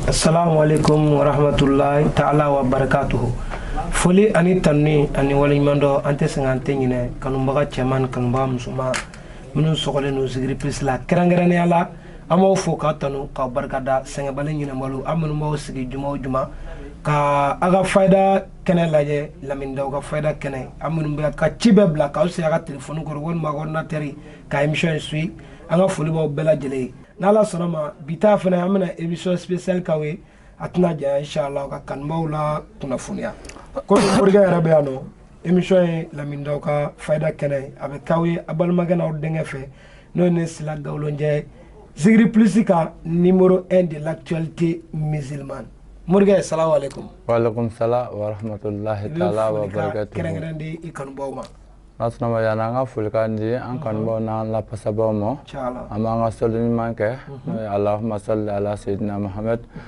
Assalamu alaikum wa rahmatullahi ta'ala wa barakatuhu foli ani tanuni ani waleɲumandɔn an tɛ sɛgɛn an tɛ ɲinɛ kanubaga cɛman kanubaga musoman minnu sɔgɔlen don zikiri plus la kɛrɛnkɛrɛnnenya la an b'aw fo ka tanu ka barikada sɛgɛnbali ɲinɛbali aw minnu b'aw sigi juma o juma ka aw ka fayida kɛnɛ lajɛ lamini daw ka fayida kɛnɛ aw minnu b'aw ka ci bɛɛ bila k'aw sigi aw ka telefoni kɔrɔ walima ordinateur ka émission in suivre an ka foli b'aw bɛɛ lajɛlen ye n'ala sɔnna ma bi ta fana an bɛna émission spéciale k'aw ye a tɛna janya inshallah ka kanubaaw la kunnafoniya ko morikɛ yɛrɛ bɛ yan nɔ émission ye lamini daw ka fayida kɛnɛ a bɛ k'aw ye aw balimakɛ n'aw denkɛ fɛ n'o ye ne sila gawulonjɛ ye zikiri plus kan numéro 1 de l'actualité musulmane morikɛ salamu aleykum waaleykum salam warahmatulahi taala wabarakatu kɛrɛnkɛrɛn di i kanubaw ma n'ala sɔnna ma yani an ka folikan di an kanubaw n'an lafasabaw ma an b'an ka sɔli ɲuman kɛ n'o ye Allahumma sɔli ala seyidina Muhamɛdi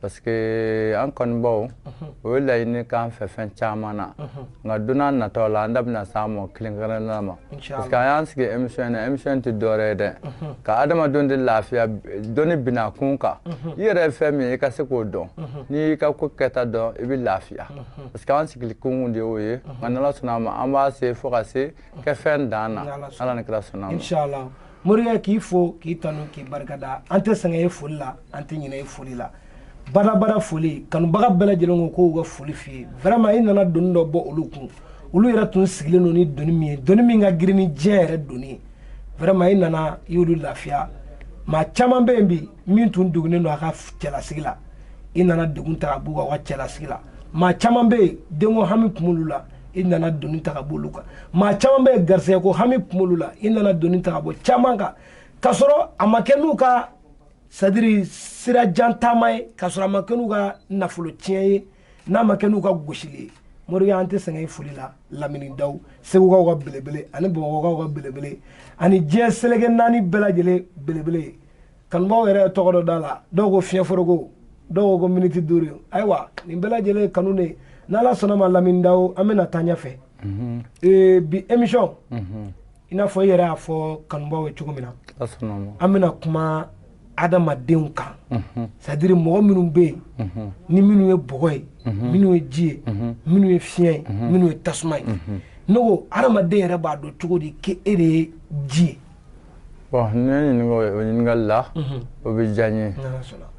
parce que an kanubaw ye laɲini k'an fɛ fɛn caman na nka don nataw la an da bɛna s'a mɔgɔ kelenkelenna ma parce que an y'an sigi émission na émission tɛ dɔwɛrɛ ye dɛ ka adamadenw de lafiya dɔɔni bina kun kan i yɛrɛ ye fɛn min ye i ka se k'o dɔn n'i y'i ka ko kɛta dɔn i bɛ lafiya parce que an sigili kun de y'o ye nka n'ala sɔnna a ma an b'a se fo ka se kɛ fɛn dan na ala ni kira sɔnna a ma morikɛ k'i fo k'i tanu k'i barikada an tɛ sɛgɛn i foli la an tɛ ɲinɛ i foli la badabada foli kanubaga bɛɛ lajɛlen ko k'u ka foli f'i ye vraiment i nana doni dɔ bɔ olu kun olu yɛrɛ tun sigilen don ni doni min ye doni min ka girin ni diɲɛ yɛrɛ doni ye vraiment i nana i y'olu lafiya maa caman bɛ yen bi min tun degunnen don a ka cɛlasigi la i nana degun ta ka b'u kan u ka cɛlasigi la maa caman bɛ yen denko hami tun b'olu la i nana doni ta ka b'olu kan maa caman bɛ yen garisɛgɛko hami tun b'olu la i nana doni ta ka bɔ caman kan k'a sɔrɔ a ma kɛ n'u ka c'est-à-dire sira jan taama ye k'a sɔrɔ a ma kɛ n'u ka nafolo tiɲɛ ye n'a ma kɛ n'u ka gosili ye morikɛ an tɛ sɛgɛn foli la lamini daw segukaw ka belebele ani bamakɔkaw ka belebele ani diɲɛ seleke naani bɛɛ lajɛlen belebele kanubaaw yɛrɛ ye tɔgɔ dɔ d'a la dɔw ko fiɲɛ foroko dɔw ko miniti duuru ayiwa nin bɛɛ lajɛlen ye kanu de ye n'ala sɔnna ma lamini daw an bɛna taa ɲɛfɛ mhm. eh, bi émission mhm. i n'a fɔ i yɛrɛ y'a fɔ kanubaaw ye cogo min na an bɛna kuma adamadenw kan mhm. c'est-à-dire mɔgɔ minnu bɛ yen mhm. ni minnu ye bɔgɔ ye mhm. minnu ye ji ye minnu ye fiɲɛ ye minnu ye tasuma ye ne ko adamaden yɛrɛ b'a dɔn cogo di k'e de ye ji ye bon ne ɲininka o ɲininkali la mhm. o bɛ diya n ye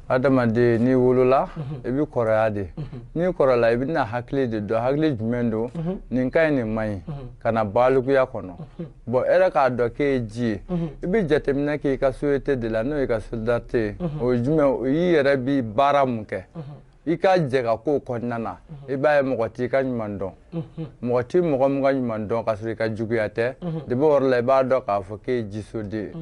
adamaden n'i wolola mhm. i bɛ kɔrɔya de mhm. n'i kɔrɔla i bɛna hakili de dɔn hakili jumɛn don nin ka ɲi nin man ɲi ka na balikuya kɔnɔ bon e yɛrɛ k'a dɔn k'e ye ji ye i bɛ jateminɛ k'i ka société de la n'o y'i ka solidarité ye o ye jumɛn o y'i yɛrɛ bi baara mun kɛ i ka jɛka ko kɔnɔna na i b'a ye mɔgɔ t'i ka ɲuman dɔn mɔgɔ t'i mɔgɔ min ka ɲuman dɔn ka sɔrɔ i ka juguya tɛ de bon o yɔrɔ la i b'a dɔn k'a fɔ k'e ye jisoden ye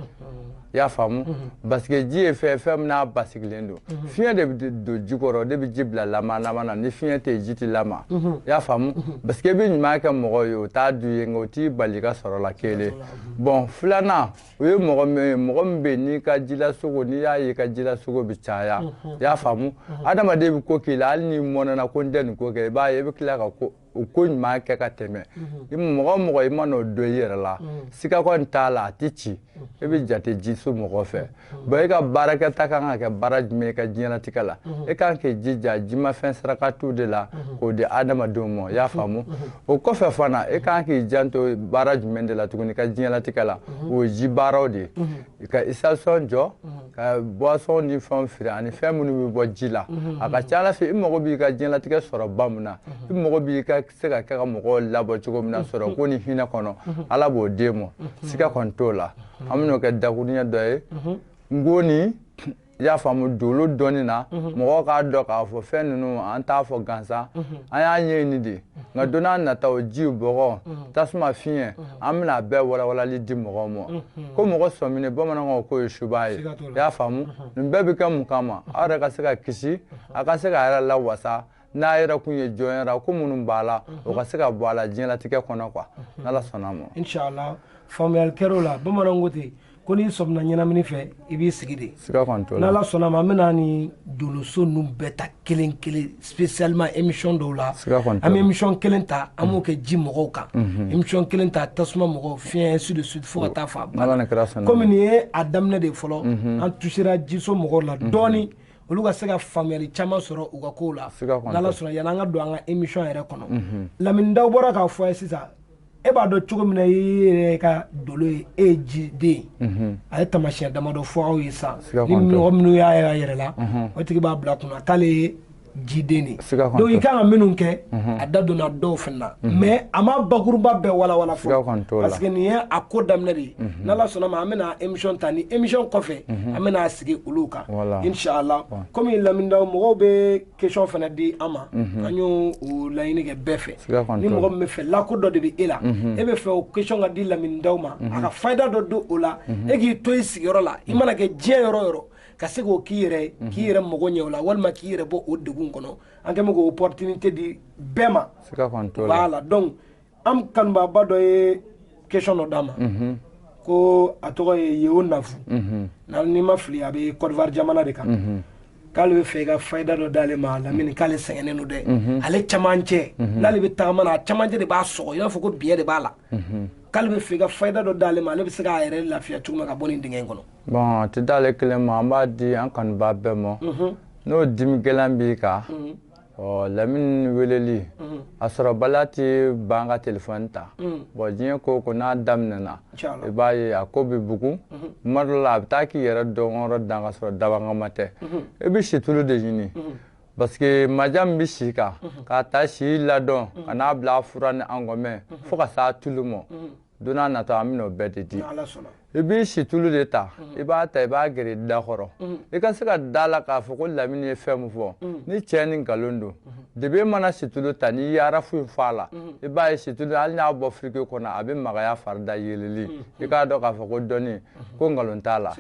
i y'a faamu parce que ji ye fɛn ye min n'a basigilen don fiɲɛ de bɛ don ji kɔrɔ de bɛ ji bila lamaga lamaga na ni fiɲɛ tɛ ji tɛ lamaga i y'a faamu parce que i bɛ ɲuman kɛ mɔgɔ ye o t'a dɔn i ye nka o t'i bali ka sɔrɔ la kelen bon filanan o ye mɔgɔ min ye mɔgɔ min bɛ n'i ka jilasogo n'i y'a ye i ka jilasogo bɛ caya i y'a faamu adamaden bɛ ko k'i la hali n'i mɔnɛna ko n tɛ nin ko kɛ i b'a ye i bɛ tila ka ko o ko ɲuman kɛ ka tɛmɛ mɔgɔ mɔgɔ i man'o dɔn i yɛrɛ la siga kɔni t'a la a tɛ ci e bɛ jate jiso mɔgɔ fɛ bon e ka baarakɛta kan ka kɛ baara jumɛn i ka diɲɛnatigɛ la e kan k'i jija jimafɛn sarakatiw de la k'o di adamadenw ma i y'a faamu o kɔfɛ fana e kan k'i janto baara jumɛn de la tuguni ka diɲɛlatigɛ la mhm. o ye ji baaraw de ye mhm. ka station jɔ mhm. ka boisson ni fɛnw feere ani fɛn minnu bɛ bɔ ji la a ka ca ala fɛ i mago b'i ka diɲɛlatigɛ sɔrɔ ba min na i mago b'i ka se ka kɛ ka mɔgɔw labɔ cogo min na sɔrɔ ko ni hinɛ kɔnɔ ala b'o d'e ma siga kɔni t'o la an bɛn'o kɛ dakuruɲɛ dɔ ye nkɔni i y'a faamu dolo dɔɔni na mhm. mɔgɔw k'a dɔn k'a fɔ fɛn ninnu an t'a fɔ gansan mhm. an y'a ɲɛɲini de nka don nataw ji bɔgɔ mhm. tasuma fiɲɛ an bɛna a bɛɛ walawalali di mɔgɔw ma ko mɔgɔ sɔminen bamananw k'o ye suba ye i y'a faamu nin bɛɛ bɛ kɛ mun kama aw yɛrɛ ka se ka kisi a ka se k'a yɛrɛ lawasa n'a yɛrɛ kun ye jɔnyara ko minnu b'a la o ka se ka bɔ a la diɲɛlatigɛ kɔnɔ quoi n'ala sɔnna ma inshallah faamuyali kɛr'o la bamananw ko ten ko n'i sɔmina ɲɛnamini fɛ i b'i sigi de siga kɔni t'o la n'ala sɔnna ma an bɛna ni doloso ninnu bɛɛ ta kelen kelen spécialement émission dɔw la siga kɔni t'o la an bɛ émission kelen ta an b'o kɛ ji mɔgɔw kan émission kelen ta tasuma mɔgɔw fiɲɛ ainsi de suite fo ka taa fɔ a banna n'ala ni kira sɔnna komi nin ye a daminɛ de ye fɔlɔ an touchera jiso mɔgɔw la dɔɔni olu ka se ka faamuyali caman sɔrɔ u ka kow la n'ala sɔnna yanni an ka don an ka émission yɛrɛ kɔnɔ mhm. lamini dawu bɔra k'a fɔ a ye sisan e b'a dɔn cogo min na i yɛrɛ ka dolo ye e ye jiden mhm. a ye taamasiyɛn damadɔ fɔ aw ye sisan ni mɔgɔ minnu y'a ye a yɛrɛ la mhm. o tigi b'a bila kunna k'ale ye jiden de donc i kan ka minnu kɛ a da donna dɔw fana na mais a ma bakuruba bɛɛ walawala fɔlɔ parce que nin ye a ko daminɛ de ye n'ala sɔnna ma an bɛna émission ta ni émission kɔfɛ an bɛna sigi olu kan inshallah kɔmi lamini daw mɔgɔw bɛ question fana di an ma an y'o laɲini kɛ bɛɛ fɛ ni mɔgɔ min bɛ fɛ lako dɔ de bɛ e la e bɛ fɛ o question ka di lamini daw ma a ka fayida dɔ don o la e k'i to i sigiyɔrɔ la i mana kɛ diɲɛ yɔrɔ o yɔrɔ ka se k'o k'i yɛrɛ k'i yɛrɛ mago ɲɛ o la walima k'i yɛrɛ bɔ o degun kɔnɔ an kɛlen k'o opportunité di bɛɛ ma voilà an kanubaaba dɔ ye question dɔ d'an ma mhm. ko a tɔgɔ ye yeo nafu mhm. ni n ma fili a bɛ Côte d'Ivoire jamana de kan mhm. k'ale bɛ fɛ i ka fayida dɔ d'ale ma lamini k'ale sɛgɛnnen don dɛ ale camancɛ n'ale bɛ tagama na a camancɛ de b'a sɔgɔ i b'a fɔ ko biɲɛ de b'a la k'ale bɛ fɛ i ka fayida dɔ d'ale ma ale bɛ se k'a yɛrɛ lafiya cogo min ka bɔ nin dingɛ in kɔnɔ. bɔn a tɛ d'ale kelen ma an b'a di an kanubaa bɛɛ ma n'o dimi gɛlɛn b'i kan. ɔ lamini weleli a sɔrɔbaliya tɛ ban ka telefɔni ta bɔn diɲɛ ko o ko n'a daminɛna i b'a ye a ko bɛ bugun tuma dɔ la a bɛ taa k'i yɛrɛ dɔnyɔrɔ dan ka sɔrɔ dabɔkama tɛ i bɛ situlu de ɲini parce que maja min bɛ si kan k'a ta si ladon ka n'a bila fura ni a ngɔmɛ fo ka s'a tulu ma don nataw an bɛn'o bɛɛ de di i b'i situlu de ta mm. i b'a ta i b'a gɛrɛ i da kɔrɔ mm. i ka se ka da la k'a fɔ ko lamini ye fɛn min fɔ mm. ni cɛn ni nkalon don depuis e mana situlu ta n'i ye arafu in fɔ a la i b'a ye situlu hali n'a bɔ frigo kɔnɔ a bɛ magaya farida yeleli i k'a dɔn k'a fɔ ko dɔnni ko nkalon t'a la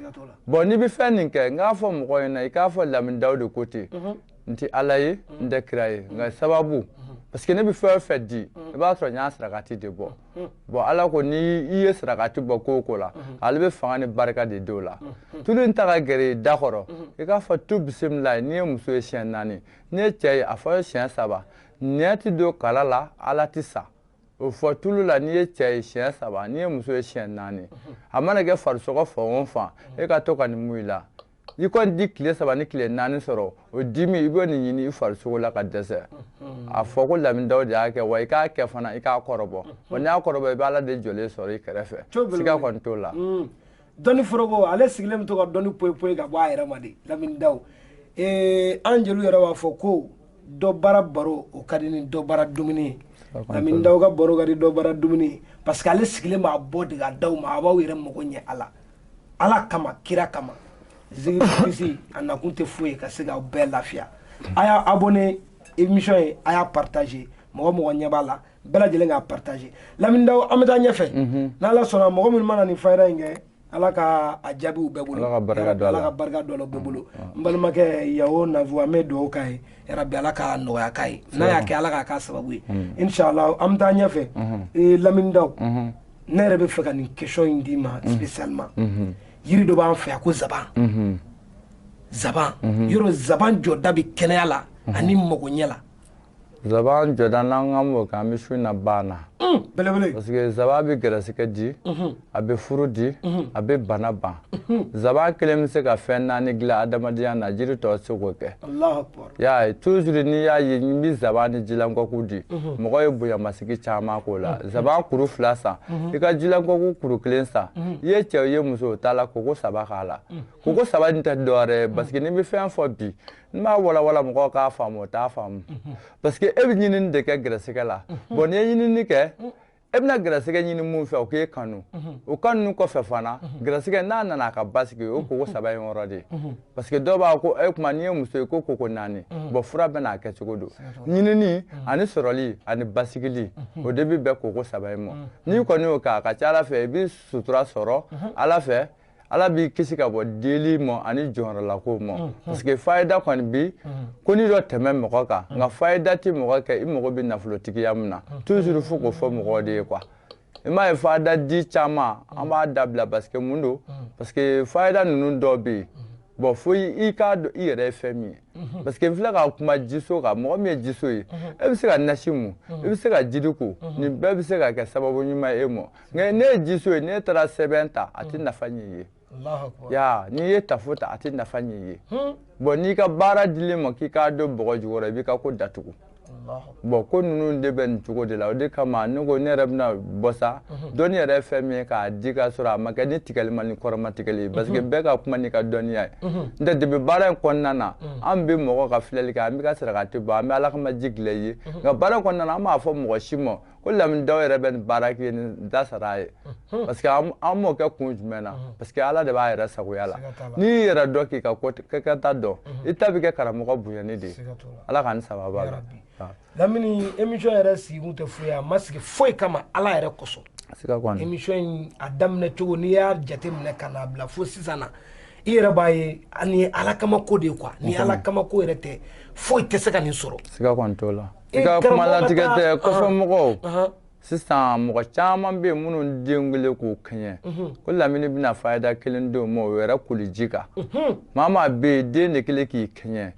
bɔn n'i bɛ fɛn nin kɛ n k'a fɔ mɔgɔ ɲɛna i k'a fɔ lamini daw de ko ten mm-hmm. n tɛ ala ye n tɛ kira ye nka sababu mm-hmm. parce que ne bɛ fɛn o fɛn di i b'a sɔrɔ n y'a sarakati de bɔ Hmm. bon ala ko ni i ye sarakati bɔ ko o ko la hmm. ale bɛ fanga ni barika de d'o la hmm. tulu in ta ka gɛrɛ i da kɔrɔ i k'a fɔ tu bisimila n'i ye muso ye siɲɛ naani n'i ye cɛ ye a fɔ ye siɲɛ saba nɛn ti don kala la ala ti sa o fɔ tulu la n'i ye cɛ ye siɲɛ saba n'i ye muso ye siɲɛ naani a mana kɛ farisogo fan o fan e ka to ka nin mun i la i kɔni ti tile saba ni tile naani sɔrɔ o dimi i bɛ nin ɲini i farisogo la ka dɛsɛ a fɔ ko lamini daw de y'a kɛ wa i k'a kɛ fana i k'a kɔrɔbɔ wa n'i y'a kɔrɔbɔ i bɛ ala de jɔlen sɔrɔ i kɛrɛfɛ siga kɔni t'o la mm. dɔnni foroko ale sigilen bɛ to ka dɔnni poyi ka bɔ a yɛrɛ ma de lamini daw eh, an jeliw yɛrɛ b'a fɔ ko dɔ bara baro o ka di ni dɔ bara dumuni ye lamini daw ka baro ka di dɔ bara dumuni ye parce que ale sigilen b'a bɔ de ka d'aw ma a b'aw yɛrɛ mago ɲɛ a la ala kama kira kama zikirisi a nakun tɛ foyi ye ka se k'aw bɛɛ lafiya a y'a abonné émission ye a y'a partagé mɔgɔ o mɔgɔ ɲɛ b'a la bɛɛ lajɛlen k'a partagé lamini daw an bɛ taa ɲɛfɛ mhm. n'ala sɔnna mɔgɔ minnu mana nin fayida in kɛ ala ka a jaabi u bɛɛ bolo ala ka barika don ala ka barika don a la bɛɛ bolo mm, mm. n balimakɛ yeo nafu an bɛ dugawu k'a ye yarabi ala ka nɔgɔya k'a ye n'a y'a kɛ ala k'a k'a sababu ye mm. inshallah an bɛ taa ɲɛfɛ mm-hmm. eh, lamini daw mm-hmm. ne yɛrɛ bɛ fɛ ka nin question in d'i ma mhm. spécialement mhm. yiri dɔ b'an fɛ yan ko zaban mhm. zaban yɔrɔ zaban jɔda bɛ kɛnɛya la ani magoɲɛ la zaban jɔda n'an k'an b'o kɛ an bɛ su in na ban na mm, belebele parce que zaban bɛ gɛrɛsɛgɛ di a bɛ furu di a bɛ bana ban zaban kelen bɛ se ka fɛn naani dilan adamadenya na jiri tɔ tɛ se k'o kɛ y'a ye toujours n'i y'a ye n bɛ zaban ni jilankɔku di mhm. mɔgɔ ye bonyamasegin caman k'o la mhm. zaban kuru fila san mhm. i ka jilankɔku kuru kelen san i ye cɛ ye muso o t'a la koko saba k'a la koko saba nin tɛ dɔwɛrɛ ye parce que n'i bɛ fɛn fɔ bi n'i m'a walawala mɔgɔw k'a faamu o t'a faamu parce que e bɛ ɲinini de kɛ gɛrɛsɛgɛ la bɔn n'i ye ɲinini kɛ e bɛna gɛrɛsɛgɛ ɲini mun fɛ o k'e kanu mhm. o kanu kɔfɛ fana mhm. gɛrɛsɛgɛ n'a nana a ka basigi o koko saba in yɔrɔ de mhm. parce que dɔw b'a ko e kuma n'i ye muso ye ko koko naani bɔn fura bɛna a kɛcogo don ɲinini ani sɔrɔli ani basigili o de bɛ bɛn koko saba in ma n'i kɔni y'o kɛ a ka ca ala fɛ i bɛ sutura sɔrɔ ala fɛ ala b'i kisi ka bɔ deli ma ani jɔrɔlako ma mm, mm. parce que fayida kɔni bi mm. ko ni dɔ tɛmɛ mɔgɔ kan nka fayida tɛ mɔgɔ kɛ i mago bɛ nafolotigiya min na toujours fo k'o fɔ mɔgɔ de ye quoi i m'a ye fayida di caman an b'a dabila parce que mun don parce que fayida ninnu dɔw bɛ yen bɔn fo i k'a dɔn i yɛrɛ ye fɛn min ye mhm. parce que n filɛ ka kuma jiso kan mɔgɔ min ye jiso ye mhm. e bɛ se ka nasi mun mhm. i bɛ se ka jiri ko nin bɛɛ bɛ se ka kɛ sababu ɲuman ye e ma nka n'e ye jiso ye n'e taara sɛbɛn ta a tɛ nafa ɲɛ i ye ya n'i ye tafo ta a tɛ nafa ɲɛ i ye hmm. bɔn n'i ka baara dilen i ma k'i k'a don bɔgɔ jukɔrɔ i b'i ka ko datugu bɔn ko ninnu de bɛ nin cogo de la o de kama ne ko ne yɛrɛ bɛna bɔ sa mhm. dɔnni yɛrɛ ye fɛn min ye k'a di ka sɔrɔ a ma kɛ ni tigɛli ma ni kɔrɔma tigɛli ye mhm. parce que bɛɛ ka kuma n'i ka dɔnniya ye mhm. n tɛ depuis baara in kɔnɔna na an bɛ mɔgɔ ka filɛli kɛ an bɛ ka sarakati bɔ an bɛ ala kama ji dilan i ye nka baara in kɔnɔna na an m'a fɔ mɔgɔ si ma ko lamini dawu yɛrɛ bɛ nin baara kɛ nin da sara a ye parce que an m'o kɛ kun jumɛn na parce que ala de b'a yɛrɛ sagoya la n'i y'i yɛrɛ dɔn k'i ka kɛta dɔn i ta bɛ kɛ karamɔgɔ bonyani de ye ala ka ni sababa la lamini émission yɛrɛ sigi kun tɛ foyi a ma sigi foyi kama ala yɛrɛ kosɔn émission in a daminɛ cogo n'i y'a jate minɛ ka n'a bila fo sisan na i yɛrɛ b'a ye ani ala kama ko de ye quoi ni ala kama ko yɛrɛ tɛ foyi tɛ se ka nin sɔrɔ siga kɔni t'o la i ka kuma latigɛ tɛ kɔfɛ mɔgɔw sisan mɔgɔ caman bɛ yen minnu den kɛlen k'u kɛɲɛ ko lamini bɛna fayida kelen d'o ma o yɛrɛ koliji kan maa maa bɛ yen den de kɛlen k'i kɛɲɛ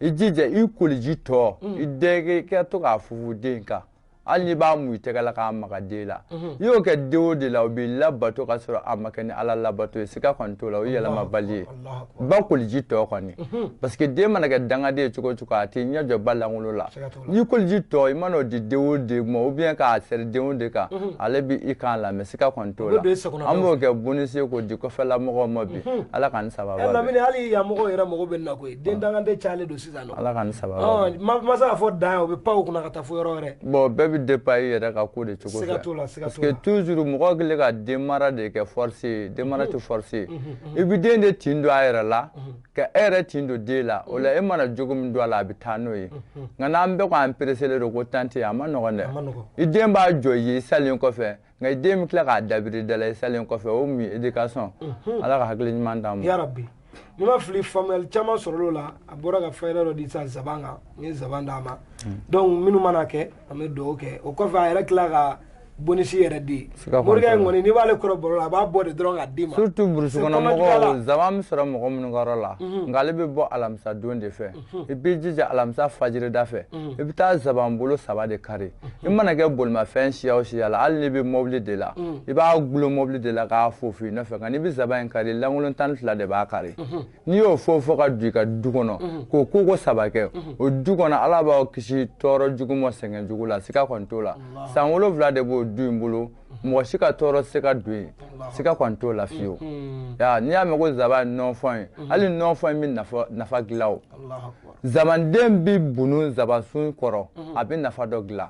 i jija i koliji tɔ i den kɛ to k'a fufu den kan hali n'i b'a mu i tɛgɛ la k'a maga den la i y'o kɛ den o den la o b'i labato ka sɔrɔ a ma kɛ ni ala labato ye siga kɔni t'o la o yɛlɛmabali ye ba koliji tɔ kɔni parce que den mana kɛ dangaden cogo o cogo a tɛ ɲɛ jɔ ba lankolon la n'i koliji tɔ i man'o di den o den ma ou bien k'a sɛri den o den kan ale b'i kan lamɛn siga kɔni t'o la an b'o kɛ bonus ye k'o di kɔfɛla mɔgɔw ma bi ala k'an sababa bɛn lamini hali yan mɔgɔw yɛrɛ mago bɛ nin na koyi den dangaden cayalen don sisan ala k'an sababa bɛn ma s'a fɔ dan o bɛ pan o kunna ka taa fo yɔrɔ wɛrɛ bon bɛɛ bɛ dépend i yɛrɛ ka ko de cogo fɛ siga t'o la siga t'o la parce que toujours mɔgɔ kɛlen ka den mara de kɛ force ye den mara tɛ force ye i bɛ den de tin don a yɛrɛ la ka e yɛrɛ tin don den la o la e mana jogo min don a la a bɛ taa n'o ye nka n'an bɛɛ ko an pereselen don ko temps tɛ a ma nɔgɔn dɛ i den b'a jɔ i ye i salen kɔfɛ nka i den bɛ tila k'a dabiri da la i salen kɔfɛ o mun ye éducation ala ka hakili ɲuman d'an ma yarabi ni n ma fili faamuyali caman sɔrɔla o la a bɔra ka fayida dɔ di sisan zaban kan n ye zaban d'a ma donc minnu mana kɛ an bɛ dugawu kɛ o kɔfɛ a yɛrɛ tila ka bonus yɛrɛ di morikɛ in kɔni n'i b'ale kɔrɔ baro la a b'a bɔ de dɔrɔn k'a d'i ma surtout burusi kɔnɔ mɔgɔw zaban bɛ sɔrɔ mɔgɔ minnu ka yɔrɔ la mhm. nka ale bɛ bɔ alamisa don de fɛ mhm. i b'i jija alamisa fajirida fɛ mhm. i bɛ taa zaban bolo saba de kari i mana kɛ bolimafɛn siya o siya la hali n'i bɛ mɔbili de la i b'a gulon mɔbili de la k'a fofo i nɔfɛ nka n'i bɛ zaban in kari lankolon tan ni fila de b'a kari n'i y'o fofo ka don i ka du kɔnɔ mhm. k'o ko ko saba kɛ mhm. o du kɔnɔ ala b'aw kisi tɔɔrɔ jugu ma sɛgɛn jugu la siga kɔni t'o la san wolonwula de b'o du in bolo mhm. mɔgɔ si ka tɔɔrɔ tɛ se ka don yen siga kɔni t'o la fiyewu ya n'i y'a mɛn ko zaban ye nɔnfɔn ye hali nɔnfɔn in bɛ nafa dilan o zabanden bɛ bunu zabansun kɔrɔ a bɛ nafa dɔ dilan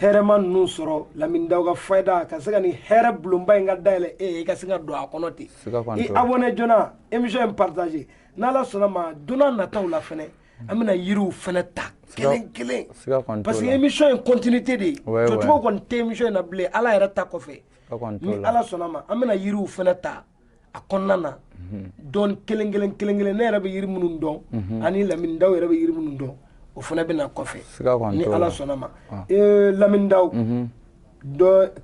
hɛrɛma ninnu sɔrɔ lamini daw ka fayida ka se ka nin hɛrɛ bulonba in ka dayɛlɛ e ye i ka se ka don a kɔnɔ ten i abonné joona émission in partager n'ala sɔnna ma donna nataw la fɛnɛ an bɛna yiriw fɛnɛ ta kelen kelen parce que émission in continuité de ye jɔcogo kɔni tɛ émission in na bilen ala yɛrɛ ta kɔfɛ ni ala sɔnna ma an bɛna yiriw fɛnɛ ta a kɔnɔna na dɔn kelen kelen kelen kelen ne yɛrɛ bɛ yiri minnu dɔn ani lamini daw yɛrɛ bɛ yiri minnu dɔn o fana bɛ na kɔfɛ ni ala sɔnna ma ee lamini daw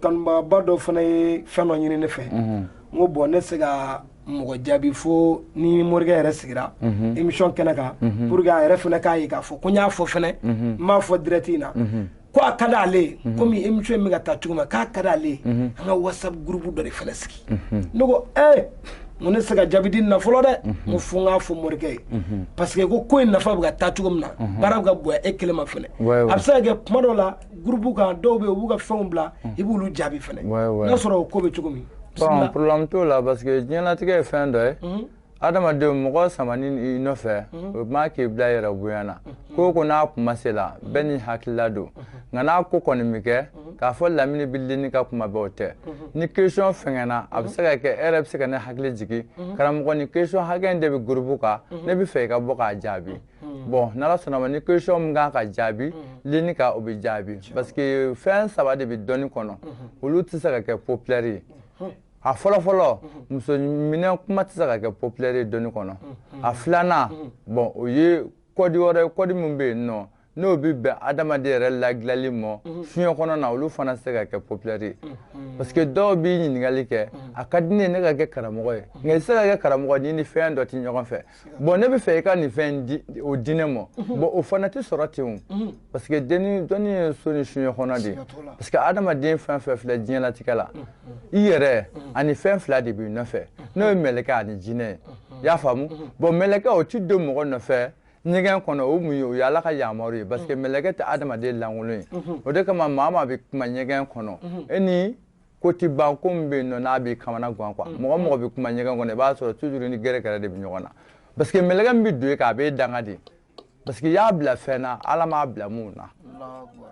kanubagaba dɔ fana ye fɛn dɔ ɲini ne fɛ n ko bon ne tɛ se ka mɔgɔ jaabi fo ni morikɛ yɛrɛ sigira émission kɛnɛ kan pour que a yɛrɛ fana k'a ye k'a fɔ ko n y'a fɔ fana n b'a fɔ direct in na ko a ka d'ale ye mhm. komi émission in bɛ ka taa cogo min k'a ka d'ale ye mhm. an ka whatsapp groupe dɔ de fana sigi mhm. ne ko ee eh, n ko ne tɛ se ka jaabi di nin na fɔlɔ dɛ n ko fo n k'a fɔ morikɛ ye parce que ko ko in nafa bɛ ka taa cogo min na baara bɛ ka bonya e kelen ma fana a bɛ se ka kɛ kuma dɔw la groupe kan dɔw bɛ yen u b'u ka fɛnw bila i b'olu jaabi fana n'a sɔrɔ o ko bɛ cogo min. problème t'o la parce que diɲɛlatigɛ ye fɛn dɔ ye. adamadenw mɔgɔ samani i nɔfɛ mhm. o ma k'i bila yɛrɛ bonya na mhm. ko ko n'a kuma se la mhm. bɛɛ n'i hakilila don nka n'a ko kɔni mi kɛ k'a fɔ lamini bɛ ligne kan kuma bɛɛ o tɛ nin question fɛngɛnna a bɛ se ka kɛ e yɛrɛ bɛ se ka ne hakili jigin karamɔgɔ nin question hakɛ in de bɛ groupe kan ne bɛ fɛ i ka bɔ k'a jaabi bon n'ala sɔnn'a ma ni question min kan ka jaabi ligne kan o bɛ jaabi parce que fɛn saba de bɛ dɔnni kɔnɔ olu tɛ se ka kɛ populaire ye a fɔlɔ fɔlɔ muso minɛ kuma tɛ se ka kɛ populaire ye dɔnni kɔnɔ a filanan bon o ye kɔdi wɛrɛ kɔdi min bɛ yen nɔ n'o bɛ bɛn adamaden yɛrɛ ladilali ma fiɲɛ kɔnɔna olu fana tɛ se ka kɛ populaire ye parce que dɔw b'i ɲininkali kɛ a ka di ne ye ne ka kɛ karamɔgɔ ye nka i tɛ se ka kɛ karamɔgɔ n'i ni fɛn dɔ tɛ ɲɔgɔn fɛ bon ne bɛ fɛ i ka nin fɛn di o di ne ma mhm. bon o fana tɛ sɔrɔ ten o mhm. parce que denni dɔnni ye so ni fiɲɛ kɔnɔ de ye parce que adamaden fɛn fɛn filɛ diɲɛlatigɛ la mhm. i yɛrɛ ani fɛn fila de b'i nɔfɛ n'o ye mɛlɛkɛ ani jinɛ ye i y'a faamu bon mɛlɛkɛ o ti don mɔgɔ nɔfɛ ɲɛgɛn kɔnɔ o mun ye o ye ala ka yamaru ye parce que mɛlɛkɛ tɛ adamaden lankolon ye o de kama maa maa bɛ kuma ɲɛgɛn kɔnɔ e ni ko ti ban ko min bɛ yen nɔ n'a b'i kamanagan quoi mm. mɔgɔ mɔgɔ bɛ kuma ɲɛgɛn kɔnɔ i b'a sɔrɔ toujours ni gɛrɛgɛrɛ de bɛ ɲɔgɔn na parce que mɛlɛkɛ min bɛ don e kan a b'e danga de parce que i y'a bila fɛn na ala m'a bila min na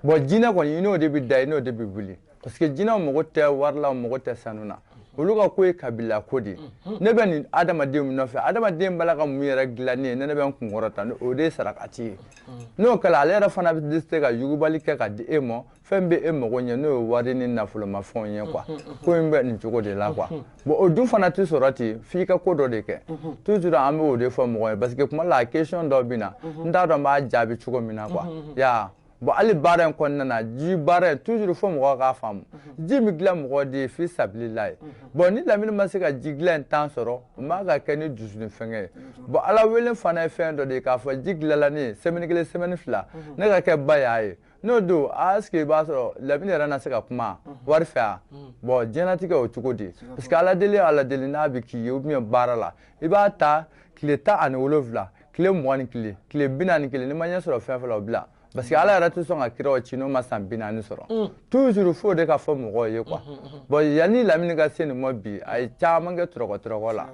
bon jinɛ kɔni i n'o de bɛ da i n'o de bɛ wuli parce que jinɛw mago tɛ wari la mago tɛ sanu na olu ka ko ye kabila ko de ye mm-hmm. ne bɛ nin adamaden min nɔfɛ adamaden b'a la ka mun yɛrɛ dilan ne ye ne ne bɛ n kunkɔrɔta o de ye sarakati ye mm-hmm. n'o kɛra ale yɛrɛ fana bɛ se ka yugubali kɛ ka di e ma fɛn bɛ e mago ɲɛ n'o ye wari ni nafolomafɛnw ye quoi ko in bɛ nin cogo de la quoi bon o dun fana tɛ sɔrɔ ten f'i ka ko dɔ de kɛ toujours an bɛ o de fɔ mɔgɔ ye parce que kuma la a question dɔw bɛ na n t'a dɔn n b'a jaabi cogo min na quoi yaa bon hali baara in kɔnɔna na ji baara in toujours fo mɔgɔ k'a faamu ji bɛ dilan mɔgɔ de ye fi sabilila ye bon ni lamini ma se ka ji dilan in temps sɔrɔ o ma ka kɛ ni dusuni fɛngɛ ye bon ala wele fana ye fɛn dɔ de ye k'a fɔ ji dilanla ne ye semaine kelen semaine fila ne ka kɛ ba y'a ye n'o don a est ce que i b'a sɔrɔ lamini yɛrɛ na se ka kuma wari fɛ a bon diɲɛnatigɛ o cogo di parce que ala deli ala deli n'a bɛ k'i ye ou bien baara la i b'a ta tile tan ani wolonwula tile mugan ni kelen tile bi naani kelen n'i ma ɲɛ sɔrɔ fɛn fɛn la o bila parce que ala yɛrɛ tɛ sɔn ka kiraw ci n'o ma san bi naani sɔrɔ toujours fo de ka fɔ mɔgɔw ye quoi bon yanni lamini ka se nin ma bi a ye caman kɛ tɔrɔkɔ tɔrɔkɔ la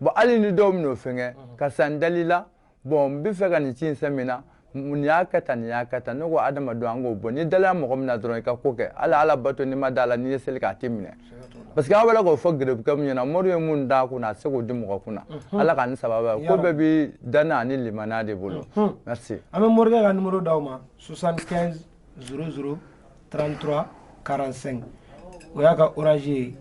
bon hali ni dɔw min'o fɛngɛ karisa n dal'i la bon n bɛ fɛ ka nin ci in sɛn min na nin y'a kɛ tan nin y'a kɛ tan ne ko adamadenw an k'o bɔ n'i dala mɔgɔ min na dɔrɔn i ka ko kɛ hali ala bato n'i ma d'a la n'i ye seli k'a tɛ minɛ parce que aw bɛ k'o fɔ gerebukɛ min ɲɛna mori ye mun d'a kun na a tɛ se k'o di mɔgɔ kun na ala ka ni sababa ko bɛɛ bɛ danna ani limaniya de bolo merci an bɛ morikɛ ka numéro d'aw ma 75 00 33 45 o y'a ka orange ye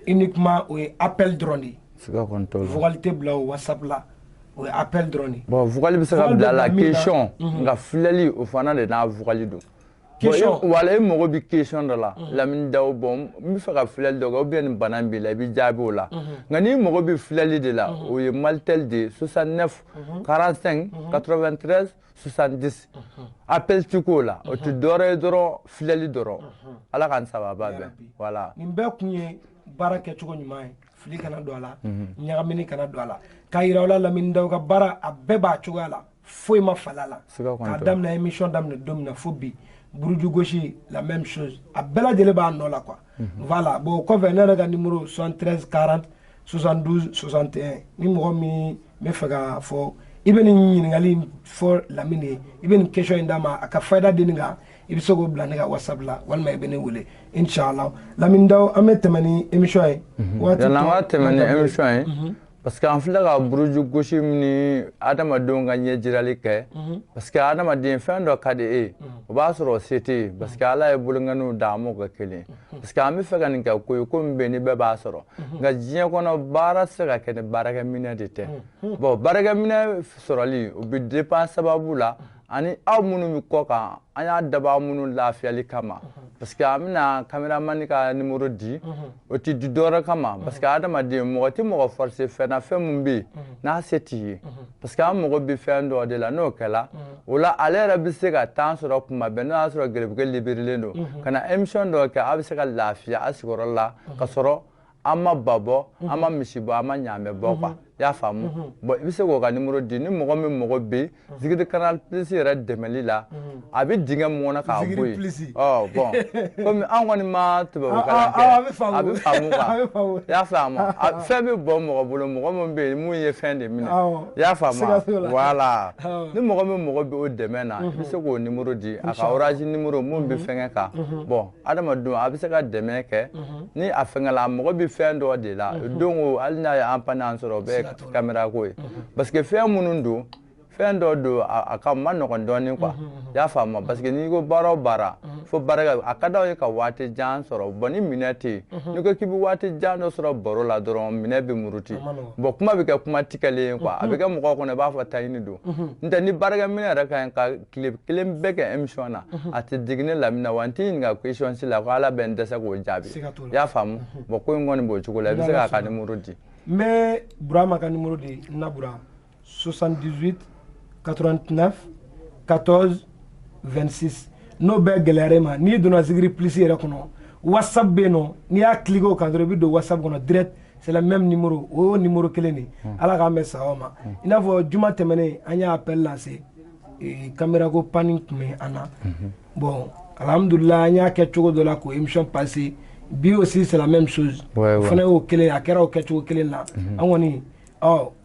uniquement o ye appel dɔrɔn de ye siga kɔni t'o la vocal tɛ bila o whatsapp la o ye appel dɔrɔn de ye bon vocal bɛ se ka bila la question mhm. nka filɛli o fana de n'a vocal don question wala e mago bɛ question dɔ la mhm. lamini daw bon n bɛ fɛ ka filɛli dɔ kɛ ou bien nin bana in b'i la i bɛ jaabi o la mhm. nka n'i mago bɛ filɛli de la o ye malitel de ye 69 45 93 70 appel ti k'o la o tɛ dɔwɛrɛ ye dɔrɔn filɛli dɔrɔn ala k'an sababa bɛn voilà nin bɛɛ kun ye baara kɛcogo ɲuman ye fili kana don a la ɲagamini kana don a la k'a yira aw la lamini daw ka baara a bɛɛ b'a cogoya la foyi ma fala a la k'a daminɛ émission daminɛ don min na fo bi buruju gosi la même chose a bɛɛ lajɛlen b'a nɔ la quoi voilà bon kɔfɛ ne yɛrɛ ka numéro 73 40 72 61 ni mɔgɔ min bɛ fɛ k'a fɔ i bɛ nin ɲininkali in fɔ lamini ye i bɛ nin question in d'a ma a ka fayida di nin kan i bɛ se k'o bila ne ka whatsapp la walima i bɛ ne wele inshallah lamini daw an bɛ tɛmɛ ni émission ye waati tɔ yala an ka tɛmɛ ni émission ye parce que an filɛ ka buruju gosi ni adamadenw ka ɲɛjirali kɛ mhm. parce que adamaden fɛn dɔ ka di e ye mhm. o b'a sɔrɔ o se t'e ye parce que ala ye bolonkɔniw dan a m'u kɛ kelen ye mhm. parce que an bɛ fɛ ka nin kɛ ko ye ko min bɛ yen ni bɛɛ b'a sɔrɔ nka diɲɛ kɔnɔ baara tɛ se ka kɛ ni baarakɛminɛ de tɛ bon baarakɛminɛ sɔrɔli o bɛ dépend sababu la ani aw minnu bɛ kɔ kan an y'a dabɔ aw minnu lafiyali kama parce que an bɛna kameramani ka numéro di o tɛ di dɔwɛrɛ kama parce que adamaden mɔgɔ tɛ mɔgɔ forcer fɛn na fɛn min bɛ yen n'a se t'i ye parce que an mago bɛ fɛn dɔ de la n'o kɛla o la ale yɛrɛ bɛ se ka temps sɔrɔ kuma bɛɛ n'o y'a sɔrɔ gɛrɛbuge libirilen don ka na émission dɔ kɛ a bɛ se ka lafiya a sigiyɔrɔ la ka sɔrɔ an ma ba bɔ an ma misi bɔ an ma ɲaamɛ bɔ quoi i y'a faamu bon i bɛ se k'o ka numéro di ni mɔgɔ min mago bɛ zikiri canal plus yɛrɛ dɛmɛli la a bɛ dingɛ mun kɔnɔ k'a bɔ yen bon comme an kɔni ma tubabu kalan kɛ a bɛ faamu quoi i y'a faamu fɛn bɛ bɔ mɔgɔ bolo mɔgɔ min bɛ yen mun ye fɛn de minɛ i y'a faamu voilà ni mɔgɔ min mago bɛ o dɛmɛ na i bɛ se k'o numéro di a ka orange numéro mun bɛ fɛnkɛ kan bon adamadenw a bɛ se ka dɛmɛ kɛ ni a fɛngɛla a mago bɛ fɛn dɔ de la don o hali n'a ye an panne an sɔrɔ o bɛɛ ye kamera ko ye parce que fɛn minnu don fɛn dɔ don a man nɔgɔn dɔɔnin quoi i y'a faamu parce que n'i ko baara o baara fo baara a ka d'aw ye ka waati jan sɔrɔ bon ni minɛ tɛ yen n'i ko k'i bɛ waati jan dɔ sɔrɔ baro la dɔrɔn minɛ bɛ muruti bon kuma bɛ kɛ kuma tigɛlen ye quoi a bɛ kɛ mɔgɔw kɔnɔ i b'a fɔ taɲini don n'o tɛ ni baarakɛminɛ yɛrɛ ka ɲi ka tile kelen bɛɛ kɛ émission na mhm. a tɛ digi ne lamina wa n t'i ɲininka question si la ko ala bɛ n dɛsɛ k'o jaabi i y'a faamu mhm. bon ko in kɔni b'o cogo la i bɛ se k'a ka numéro di n bɛ burama ka numéro di n na bura 78 89 14 26 n'o bɛɛ gɛlɛyara e ma n'i donna zikiri plus yɛrɛ kɔnɔ whatsapp bɛ yen nɔ n'i y'a cliquer o kan dɔrɔn i bɛ don whatsapp kɔnɔ direct c'est le même numéro o y'o numéro kelen de ye hmm. ala k'an bɛn sawaba ma hmm. i n'a fɔ juma tɛmɛnen an y'a appel lancer caméra ko panne tun bɛ an na bon alhamdulillah an y'a kɛ cogo dɔ la ko émission passé bi aussi c'est la même chose fana y'o kelen a kɛra o kɛcogo kelen na an kɔni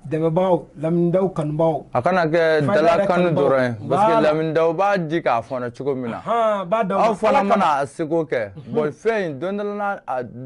dɛmɛbagaw lamida kanubaw a kana kɛ dala kanu dɔrɔn ye parce que lamida b'a di k'a fɔ cogo min na aw fana mana a seko kɛ bon fɛn in don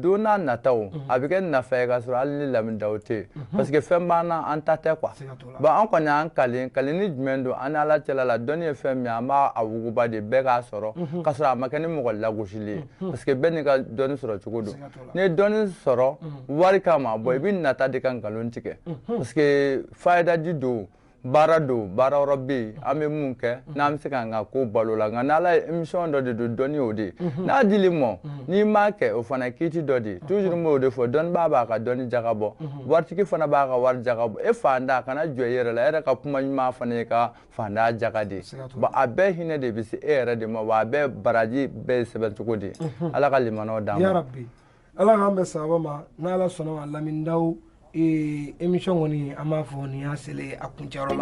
don nata a bɛ kɛ nafa ka sɔrɔ hali ni lamida tɛ yen parce que fɛn b'an na an ta tɛ quoi Bon an kɔni an kalen kalen ni jumɛn don an ni ala cɛla la dɔnni ye fɛn min ye an b'a wuguba de bɛɛ k'a sɔrɔ mhm. ka sɔrɔ a ma kɛ ni mɔgɔ lagosili ye mhm. parce que bɛɛ n'i ka dɔnni sɔrɔ cogo don n'i ye dɔnni sɔrɔ mhm. wari kama bon i bɛ nata de ka nkalon tigɛ parce que fayidaji don baara don baara yɔrɔ bɛ yen an bɛ mun kɛ n'an bɛ se k'an ka ko balo la nka n'ala ye mission dɔ de don dɔnni o de ye n'a dil'i ma n'i m'a kɛ o fana kiiti dɔ de ye toujours n b'o de fɔ dɔnnibaa b'a ka dɔnni jaka bɔ waritigi fana b'a ka wari jaka bɔ e faantan kana jɔn i yɛrɛ la e yɛrɛ ka kuma ɲuman fana y'i ka faantan jaka de bon a bɛɛ hinɛ de bɛ se e yɛrɛ de ma wa a bɛɛ baraji bɛ sɛbɛn cogo de mhm. ala ka limanaw d'an ma yarabi ala k'an bɛn sawaba ma n'ala sɔnna ma lamindaw émission kɔni an b'a fɔ nin y'a selen a kuncɛyɔrɔ la